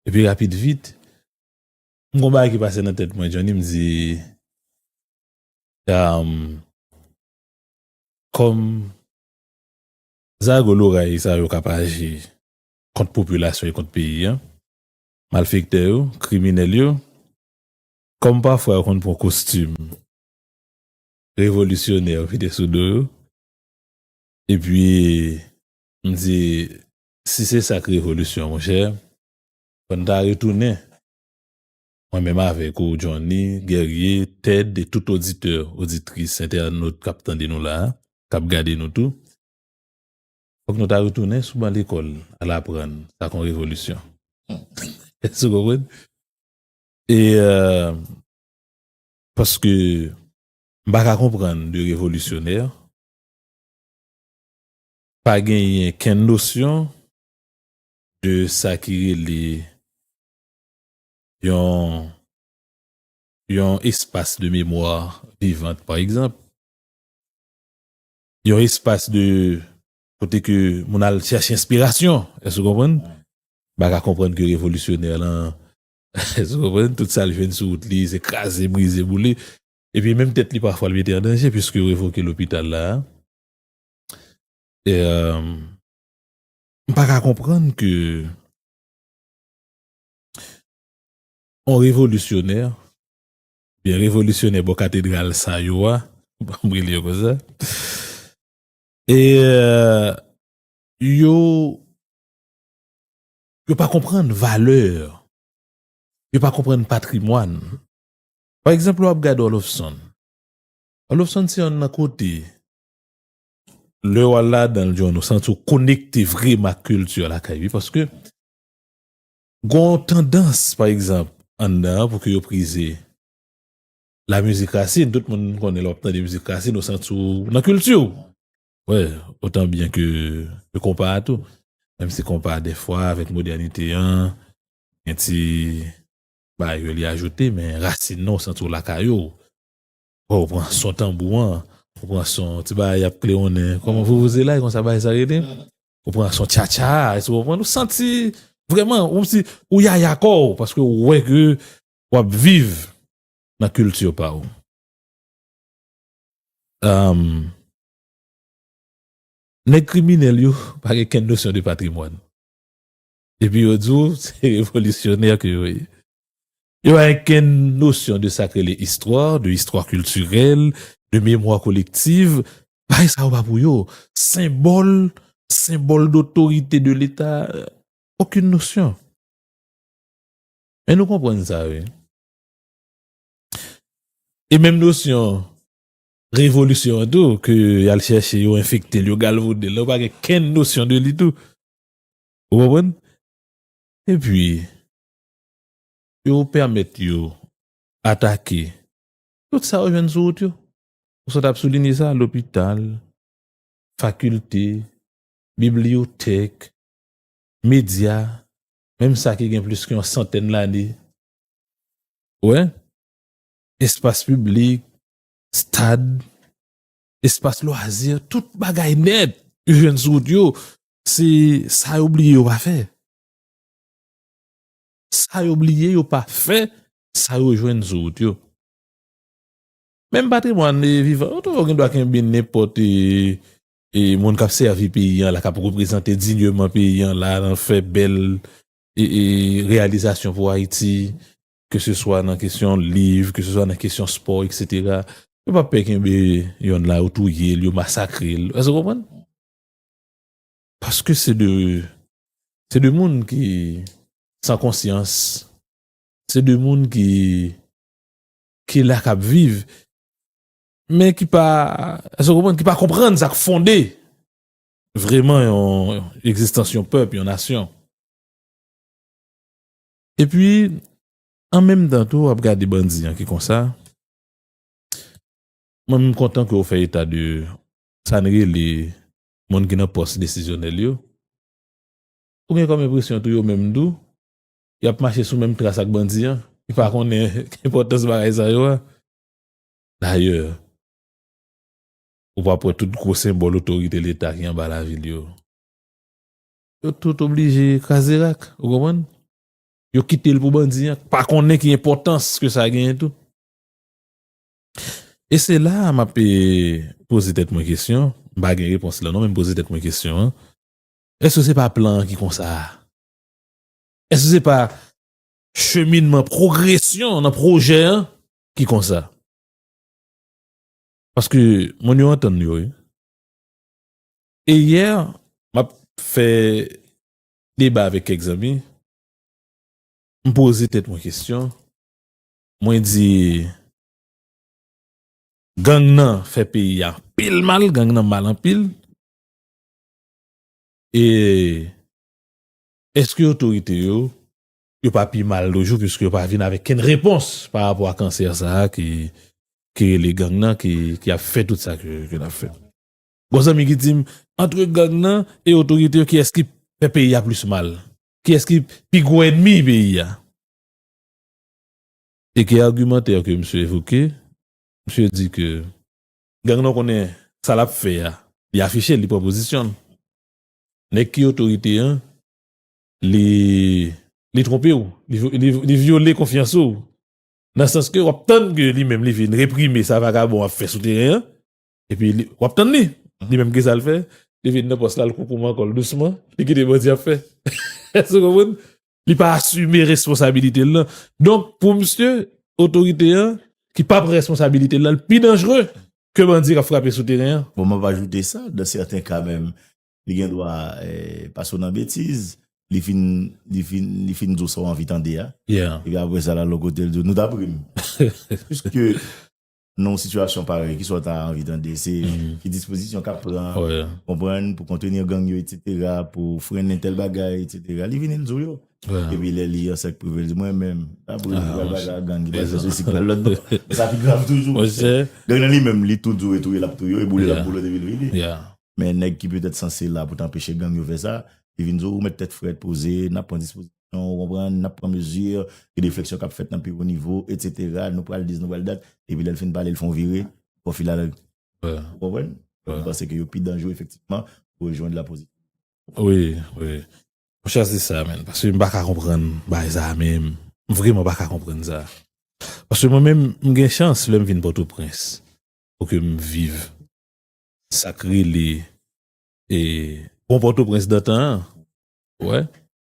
epi rapid vit m gon bagay ki pase nan tèt mwen Johnny m di Kòm zago loray sa yo k ap aji kont popilasyon e kont peyi an, malfektè yo, kriminèl yo, kòm pafwa yo konn pran kostim revolisyonè mete sou do yo, epi m di si se sa k revolisyon monchè, fò n ta retounen Mwen menm avèk ou Johnny, Guerrier, Ted e tout oditè, oditris, entènot kap tande nou la a, kap gade nou tou, fòk nou ta retounen sou ban lekòl al aprann sa k yon revolisyon. Èske ou konprann? E paske m pa ka konprann de revolisyonè pa genyen kenn nosyon de sa ki rele yon yon espas de memwa vivant pa egzanp yon espas de kote ke moun al chèche enspirasyon èske ou konprann ba ka konprann ke revolisyonè lan èske ou konprann tout sa li jwenn sou wout li se kraze brize boule epi menm tèt li pafwa li mete an danje piske yo revoke lopital la eee m pa ka konprann ke. On revolisyonè, oubyen revolisyonè bò katedral sa yo a, banm rele yo konsa, e yo, yo pa konprann valè, yo pa konprann patrimwàn. Pa egzanp lè w ap gade Oloffson, Oloffson se yonn nan kote, lè w al ladan l, John, ou santi w konekte vreman ak kilti w lakay li, paske, Gon w tandans pa egzanp anndan an pou ke yo prize la mizik rasin, tout moun konnen lè w ap tande mizik rasin ou santi w nan kilti w. Wè, otan byen ke konpa a tou. Menm si konpa a dèfwa avèk modènite an gen ti bagay ke li ajoute men rasin nan w santi w lakay ou. Wè w pran son tanbou an, ou pran son ti bagay y ap klewonnen, kòman vouvouzelayi konsa bagay sa rele? Ou pran son tcha tcha, èske ou konprann? Ou santi vrèman, ou si ou yaya kò ou paske ou wè ke w ap viv nan kilti pa ou. Nèg kriminèl yo pa gen kenn nosyon de patrimwàn. Epi yo di w se revolisyonè ke yo ye. Yo pa gen kenn nosyon de sa k rele istwa, de istwa kiltirèl, de memwa kolektiv. Bagay sa yo pa pou yo. Senbòl, senbòl dotorite de leta, okenn nosyon. Men nou konprann sa wi. E menm nosyon revolisyon an tou ke y al chèche yo enfekte l, yo galvode l la, yo pa gen kenn nosyon de li tou. Ou konprann? Epi, yo pèmèt yo atake tout sa yo jwenn sou wout yo. Ou sot ap soulinye sa, lopital, fakilte, bibliyotèk, medya, menm sa ki gen plis ke yon santèn lane. Ou wè? Espas piblik, stad, espas lwazi, tout bagay nèt yo jwenn sou wout yo, se sa yo bliye yo pa fè. Sa yo bliye yo pa fè, sa yo jwenn sou wout yo. Menm patrimwàn vivan yo tou yo gen dwa kenbe nenpòt e moun k ap sèvi peyi an la, k ap reprezante dinyeman peyi an la, fè bèl reyalizasyon pou Ayiti, ke se swa nan kesyon liv, ke se swa nan kesyon spò, eksetera, yo pa pè kenbe yonn la, yo touye l, yo masakre l. Èske w konprann? Paske se de, se de moun ki san konsyans, se de moun ki, ki la k ap viv, men ki pa, èske w konprann, ki pa konprann sa k fonde vreman yon egzistans yon pèp, yon nasyon. Epi an menm tan tou wap gade bandi an ki konsa, mwen menm kontan ke ou fè eta de sa n rele moun ki nan pòs desizyonèl yo, ou gen kòm enpresyon tou yo menm tou yap mache sou menm tras ak bandi an ki pa konnen enpòtans bagay sa yo a. Dayè, ou pap wè tout gwo senbòl otorite leta ki anba lavil yo. Yo tout oblije kraze rak, ou konprann? Yo kite l pou bandi an k pa konnen ki enpòtans ke sa genyen tou. E se la a m ap poze tèt mwen kesyon, m pa gen repons la non men m poze tèt mwen kesyon an, èske se pa plan an ki konsa a? Èske se pa cheminman pwogresyon nan pwojè an ki konsa? Paske moun yo antann yo wi. E yè m ap fè deba avèk kèk zanmi, m poze tèt mwen kesyon, mwen di gang nan fè peyi a anpil mal, gang nan mal anpil, e èske otorite yo, yo pa pi mal toujou piske yo pa vin avèk kenn repons pa rapò a kansè sa a ki rele gang nan ki ap fè tout sa ke l ap fè. Gon zanmi ki dim antre gang nan e otorite yo kiyès ki fè peyi a plis mal? Kiyès ki pi gwo enmi peyi a? E ke argumantè ke misye evoke, misye di ke gang nan konnen sa lap fè a, li afichel, li pran pozisyonl. Nèg ki otorite an li li tronpew, li vyole konfyans ou nan sans ke wap tann ke li menm li vin reprime sa vagabon ap fè sou teren an Epi li, wap tann li! Li menm kisa l fè? Li vin nan pòs la, l koukouman kò l dousman, li kite bandi ap fè. Èske ou konprann? Li pa asime responsabilite l lan. Donk, pou misye, otorite an, ki pa pran responsabilite l lan, l pi danjre ke bandi kap frape sou teren an. Bon, map ajoute sa,
dan sèten ka menm, li gen dwa pase w nan betiz, li fin, li fin, li fin di w sa w anvi tande a. Epi apresa l
al lòt kote
l di w, nou ta pri m. Piske. nan yon sitiyasyon parèy, kisa w ta anvi tande, se ki dispozisyon k ap pran, konprann, pou kontenir gang yo, etsetera, pou frennen tèl bagay, etsetera, li vini l di w yo. Epi lè li an sèk prive l di mwen menm, ta pou l di pral pase ak gang, ki pral fè sosi, ki pral lòt bò. Sa pi grav toujou. Gang nan li menm, li tou di w e touye l ap touye w, e boule l ap boule w depi l vini. Men nèg ki petèt sanse la pou t anpeche gang yo fè sa, li vin di w ou mèt tèt frèt, poze, n ap pran dispozisyon. Nou ou konprann, n ap pran mezi, gen de fleksyon k ap fèt nan pi wo nivo, etsetera, nou pral dis, nou pral dat, epi lè l fin pale l fon vire, bon filanl, ou konprann? Donk m panse ke yo pi danjre efektifman pou rejwenn la pozi. Wi,
wi. Mwen chwazi sa menn, paske m pa ka konprann bagay sa a menm. M vreman pa ka konprann sa. Paske mwen menm, m gen chans lè m vin Pòtoprens pou ke m viv sa k rele bon Pòtoprens dantan an, ou wè.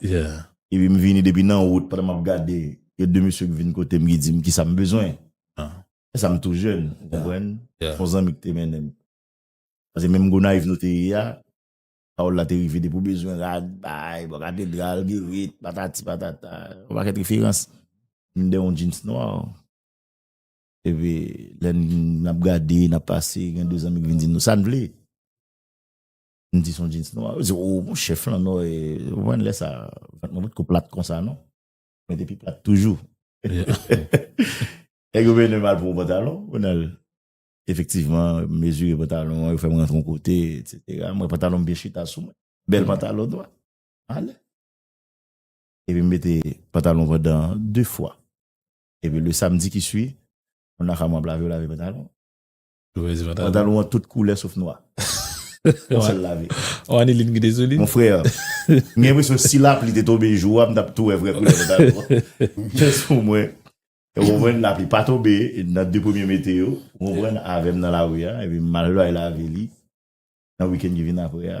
Yeah. Epi m vini depi nan wout pandan map gade gen 2 mesye k vin kote m ki di m kisa m bezwen. Ah. Lèsa m tou jèn ou konprann. Yeah. Son zanmi k te mennen m. Pase menm Gonayiv nou te ye a, pawòl la te rive depi w bezwen rad, bay, bò katedral, Guerit, patati patata, yon pakèt referans. M gen yon jeans nwa. Epi lè nap gade, nap pase gen 2 zanmi k vin di nou sa n vle. M di son jeans nwa. Yo di oh bon chef lan non e ou konprann lè sa vant mwen potko plat konsa non. Mwen te pi plat toujou. Nèg yo mennen m al pran yon pantalon, mwen al efektivman mezire pantalon an, yo fè m rantre yon kote etsetera. M wè pantalon m byen chita sou mwen. Bèl pantalon nwa. M ale. Epi m mete pantalon pandan 2 fwa. Epi le samdi ki sui, moun Nakamwap lave yo lave pantalon. Mauvaise vent. Pantalon an tout koulè sof nwa. Yon sèl lave. Ou Anilin ki te sou
li? Mon frère,
m gen enpresyon si lapli te tonbe jou a, m tap tou wè vrè koulè pantalon an. Gen sou mwen. Ou konprann? Lapli pa tonbe nan 2 premye mete yo, ou konprann, avè m nan lari a, epi m al bay lave li nan week-end ki vin aprè a.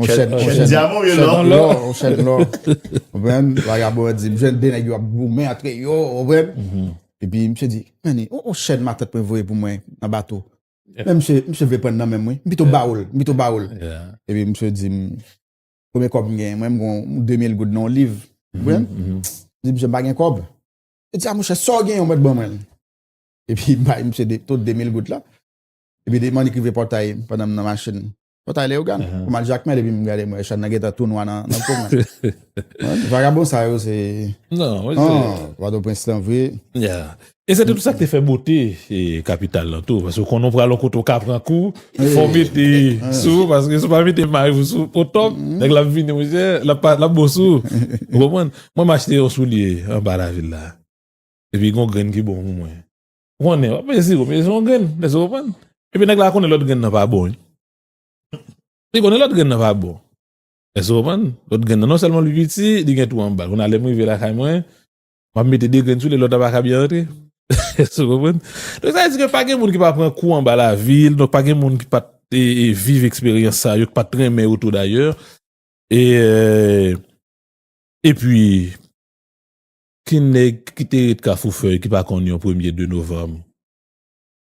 On chèn diamon ye
lò. On chèn
lò. Ou vèm, laga bò di, mwen chèn denè gyo ap goumen atre yo, ou vèm. E pi mwen chèn di, mwen ni, on chèn matant mwen voye pou mwen nan bato. Mwen chèn vle pren nan men mwen, mwen pito baoul, mwen pito baoul. E pi mwen chèn di, mwen mwen kòp mwen gen, mwen mwen mwen 2000 goud nan on liv. Ou vèm, mwen chèn di, mwen bagen kòp. Mwen chèn di, mwen chèn sò gen yon mèt ban mwen. E pi mwen chèn di, tout 2000 goud la. E pi mwen mwen ekrive pòtay, pandan mwen nan machin. Mwen ta ale yo gan. Mwen al jakmel epi mwen gade mwen chan nan geta tou nwa nan pou mwen. Vagabon sa yo se. Non.
Vado prens
lan vre. Ya. E se te
tout sa te fè bote kapital lan tou. Paske konon pral an kote ou ka pran kou. Fon mete sou. Paske sou pa mete may ou sou. O top. Nèk la vini mwen jè. La pa la bo sou. Mwen mwen mwen mwen achte yon soulye. An ba la vil la. Epi yon grenn ki bon mwen mwen. Konnen, wap manje siwo, men se yon grenn, èske w konprann? Epi nèg la konnen lòt grenn nan pa bon wi. Li konnen lòt grenn nan pa bon. Èske w konprann? Lòt grenn nan non sèlman li piti, li gen twou anba l. Kounye a lè m rive lakay mwen, map mete 2 grenn sou li, lòt la paka byen rantre. Èske w konprann? Donk sa vle di ke pa gen moun ki pa pran kou anba lavi, donk pa gen moun ki pat viv eksperyans sa yo, ki pat renmen yo tou dayè. E epi Ti nèg ki te ret Kafou Fèy ki pa konn yon premye 2 novanm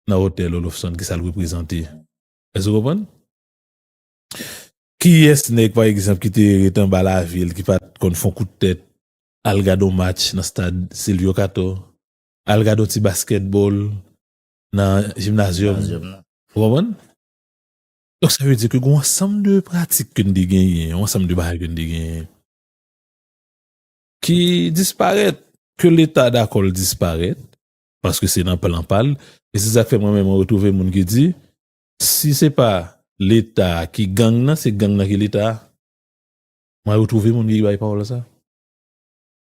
nan otèl Olofsonn ki sa l reprezante? Èske ou konprann? Kiyès nèg pa egzanp ki te ret anba lavil ki pa t konn fon kout tèt al gad yon match nan stad Silvyo Kato, al gad yon ti baskètbòl nan jimnazyòm nan? Ou konprann? Donk sa vle di ke gen yon ansanm de pratik ke n te genyen, yon ansanm de bagay ke n te genyen. ki disparèt, ke leta dakò l disparèt, paske se nan plan pa l, e se sa k fè mwen menm mwen retwouve moun ki di, si se pa leta ki gang nan, se gang nan ki leta a. Mwen retwouve moun ki bay pawòl sa.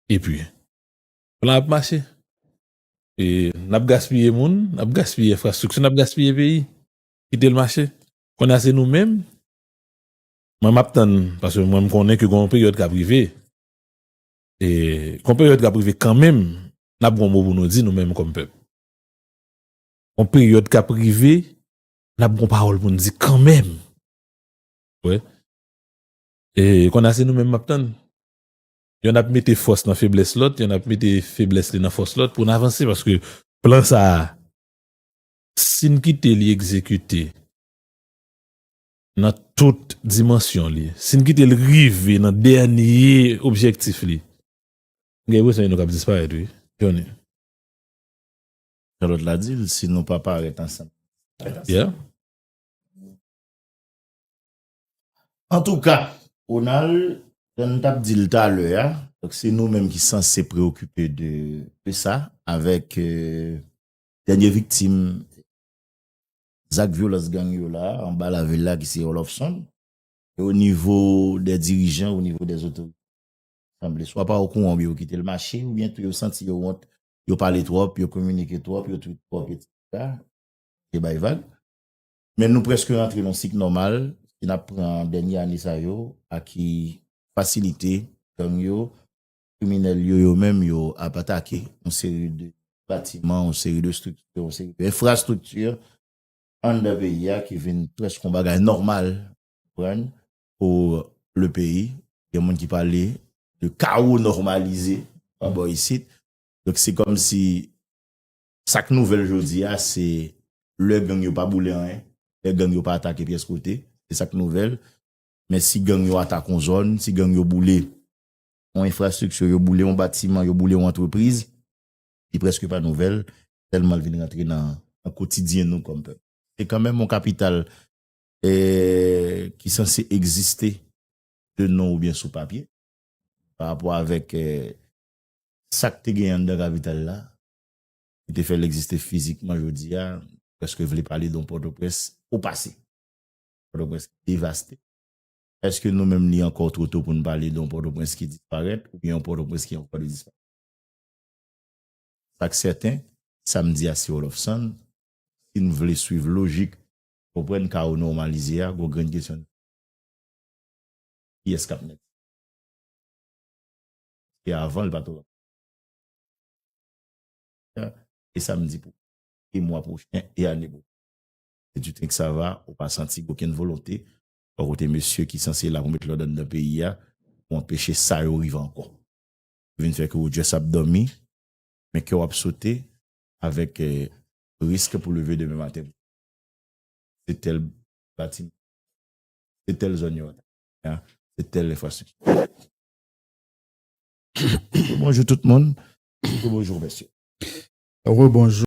Epi, plan ap mache. E n ap gaspiye moun, n ap gaspiye enfrastrikti, n ap gaspiye peyi. Kite l mache. Kounye a se nou menm. Mwen map tann paske mwen m konnen ke gon yon peryòd kap rive e gon peryòd kap rive kanmenm nap gon mo pou nou di nou menm kòm pèp. Gon peryòd kap rive nap gon pawòl pou nou di kanmenm wè e konn a se nou menm map tann yonn ap mete fòs nan feblès lòt yonn ap mete feblès li nan fòs lòt pou nou avanse paske plan sa a sin kite li egzekite nan tout dimansyon li, si n kite l rive nan dènye objektif li, m gen enpresyon li nou k ap disparèt wi, Jhonny.
Jan lòt la di l, si nou pa parèt ansanm, nou pa parèt ansanm.
Yeah.
Antouka, Ronald, jan n t ap di l talè a, donk se nou menm ki sanse preyokipe de sa avèk dènye viktim zak vyolans gang yo la anba lavil la ki se Oloffson e o nivo dè dirijan o nivo dè otorite sanble swa pa okouran oubyen yo kite l mache oubyen tou yo santi yo wont yo pale twòp yo kominike twòp yo twit twòp etc yo bay vag men nou prèske rantre nan yon sik nòmal si n ap pran dènye ane sa yo a ki fasilite gang yo Kriminèl yo yo menm yo ap atake yon seri de batiman, yon seri de estrikti, yon seri de enfrastrikti anndan peyi a ki vin prèske yon bagay nòmal, ou konprann, pou le peyi. Gen moun ki pale de kawo nòmalize pa bò isit. Donk se kòm si sa k nouvèl jodi a se lè gang yo pa boule anyen, lè gang yo pa atake pyès kote, se sa k nouvèl. Men si gang yo atake yon zòn, si gang yo boule yon enfrastrikti, yo boule yon batiman, yo boule yon antrepriz, li prèske pa nouvèl, tèlman l vin rantre nan kotidyen nou kòm pèp. Se kanmenm yon kapital ki sanse egziste de non oubyen sou papye, pa rapò avèk sa k te gen anndan kapital la, ki te fè l egziste fizikman jodi a, prèske vle pale de yon Pòtoprens opase, Pòtoprens devaste. Eske nou menm li ankò two to pou n pale de yon Pòtoprens ki disparèt oubyen yon Pòtoprens ki ankò de disparèt? Sa k sèten, sa m di a se Wolòfsann, si n vle swiv lojik konprann kawo nòmalize a, gon grenn kesyon n ka poze, kiyès k ap mèt sa? Paske avan l pa t ogan. E sa m di pou e mwa pwochen e ane pwochen. Se tu tenk sa va, ou pa santi okenn volonte Bon kote mesye ki sanse la pou met lòd anndan peyi a pou anpeche sa yo rive ankò. Yo vin fè ke ou just ap dòmi men kèw ap sote avèk risk pou leve demen maten pou se tèl batiman, se tèl zòn yo atake kounye a, se tèl enfrastrikti. Rebonjou tout moun, rebonjou mesye. Rebonjou.